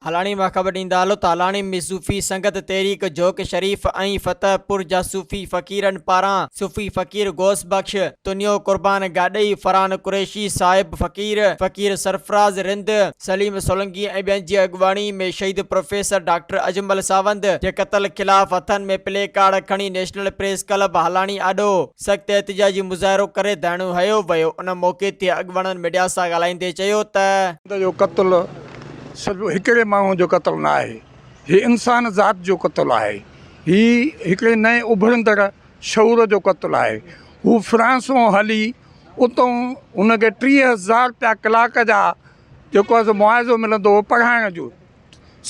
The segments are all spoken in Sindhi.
هالاڻي مان خبر ڏيندا هلو ته هالاڻي ۾ صوفي سنگت تحريڪ جوڪ شريف ۽ فتح پور جا صوفي فقيرن پاران صوفي فقير غوث بخش تنيو قربان گاڏهي فرحان قريشي صاحب فقير فقير سرفراز رند سليم سولنگي ۽ ٻين جي اڳواڻي ۾ شهيد پروفيسر ڊاڪٽر اجمل ساوند جي قتل خلاف هٿن ۾ پلي ڪارڊ کڻي نيشنل پريس ڪلب هالاڻي آڏو سخت احتجاجي مظاهرو ڪري ڌرڻو هنيو ويو ان موقعي تي اڳواڻن ميڊيا سان ڳالهائيندي چيو ته. ساوند جو قتل صرف هڪڙي ماڻهو جو قتل نه آهي هي انسان ذات جو قتل آهي هي هڪڙي نئين اڀرندڙ شعور جو قتل آهي. هو فرانس مون هلي اتون هن کي ٽيهه هزار روپيا ڪلاڪ جا جيڪو آهي سو معاوضو ملندو هو پڙهائڻ جو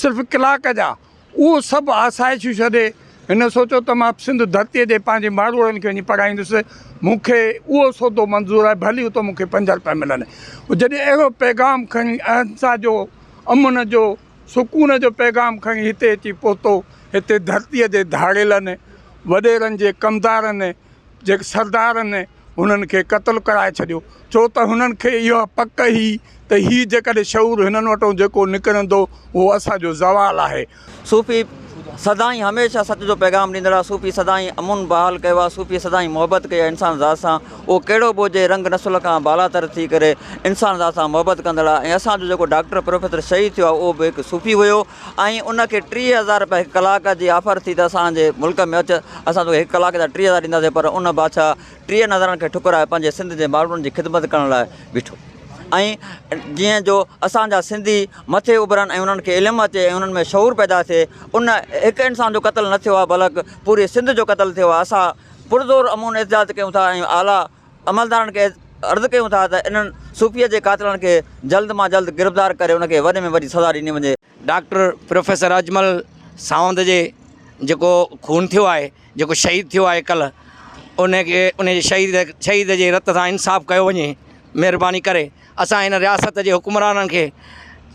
صرف ڪلاڪ جا اهو سڀ آسائشون ڇڏي هن سوچيو ته مان سنڌ ڌرتيء جي پنهنجي ماروئڙن کي وڃي پڙهائيندس مون کي اهو سودو منظور آهي ڀلي اتون مون کي پنج روپيا ملن هو جڏهن اهڙو پيغام کڻي اهنسا جو امن جو سڪون جو پيغام کڻي هتي اچي پهتو. هتي ڌرتيء جي ڌاڙيلن، وڏيرن جي ڪمدارن، جي سردارن هنن کي قتل ڪرائي ڇڏيو، ڇو ته هنن کي اها پڪ هئي ته هي جيڪڏهن شعور هنن وٽان جيڪو نڪرندو، اهو اسان جو زوال آهي. صوفي سدائين هميشه سچ جو پيغام ڏيندڙ آ، صوفي سدائين امن بحال ڪيو آ، صوفي سدائين محبت ڪئي آ انسان ذات سان. اهو ڪهڙو به هجي رنگ نسل کان بالاتر ٿي ڪري انسان ذات سان محبت ڪندڙ آهي ۽ اسان جو جيڪو ڊاڪٽر پروفيسر شهيد ٿيو آهي اهو به هڪ صوفي هيو ۽ ان کي ٽيهه هزار رپيا هڪ ڪلاڪ جي آفر ٿي ته اسان جي ملڪ ۾ اچ اسان توکي هڪ ڪلاڪ جا ٽيهه هزار ڏينداسين پر ان بادشاهه ٽيهن هزارن کي ٺڪرائي پنهنجي سنڌ جي ماڻهن جي خدمت ڪرڻ لاء بيٺو ۽ جيئن جو اسان جا سنڌي مٿي اڀرن ۽ انهن کي علم اچي ۽ انهن ۾ شعور پيدا ٿئي ان هڪ انسان جو قتل نه ٿيو آهي بلڪ پوري سنڌ جو قتل ٿيو آهي اسان پرزور امون احتجاج ڪيون ٿا ۽ اعليٰ عملدارن کي عرض ڪيون ٿا ته انهن صوفي جي قاتلن کي جلد مان جلد گرفتار ڪري ان کي وڏي ۾ وڏي سزا ڏني وڃي. ڊاڪٽر پروفيسر اجمل ساوند جي جيڪو خون ٿيو آهي جيڪو شهيد ٿيو آهي ڪلهه ان کي ان جي شهيد شهيد جي رت سان انصاف ڪيو وڃي مهرباني ڪري اسان هن رياست جي حڪمرانن کي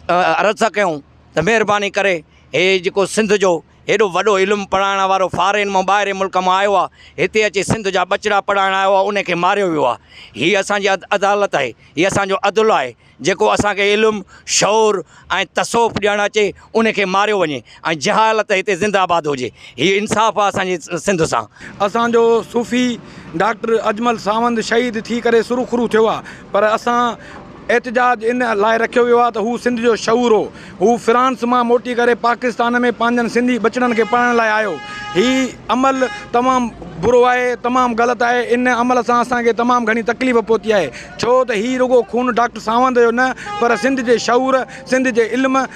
عرض ٿا ڪيون ته مهرباني ڪري هي جيڪو سنڌ جو هيڏو وڏو علم پڙهائڻ وارو فارين مان ٻاهرين ملڪ مان آيو آهي هتي اچي سنڌ جا ٻچڙا پڙهائڻ آيو آهي ان کي ماريو ويو آهي هي اسانجي عدالت آهي هي اسانجو عدل آهي جيڪو اسانکي علم شعور ۽ تصوف ڏيڻ اچي ان کي ماريو وڃي ۽ جهالت هتي زنده آباد هجي هي انصاف آهي اسانجي سنڌ سان. اسانجو صوفي ڊاڪٽر اجمل ساوند شهيد ٿي ڪري سرخرو ٿيو آهي پر اسان احتجاج ان لاء رکيو ويو آهي ته هو سنڌ جو شعور هو. هو فرانس مان موٽي ڪري پاڪستان ۾ پنهنجن سنڌي ٻچڙن کي پڙهائڻ لاء آيو. هي عمل تمام برو آهي، تمام غلط آهي. ان عمل سان اسان کي تمام گهڻي تڪليف پهتي آهي. ڇو ته هي رڳو خون ڊاڪٽر ساوند جو نه پر سنڌ جي شعور، سنڌ جي علم،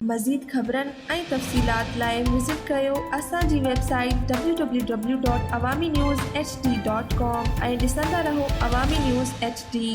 مزيد خبرن ۽ تفصيلات لاء وزٽ ڪيو اسان جي website www.awaminews. hd. com ۽ ڏسندا رهو عوامي نيوز ايڇ ڊي.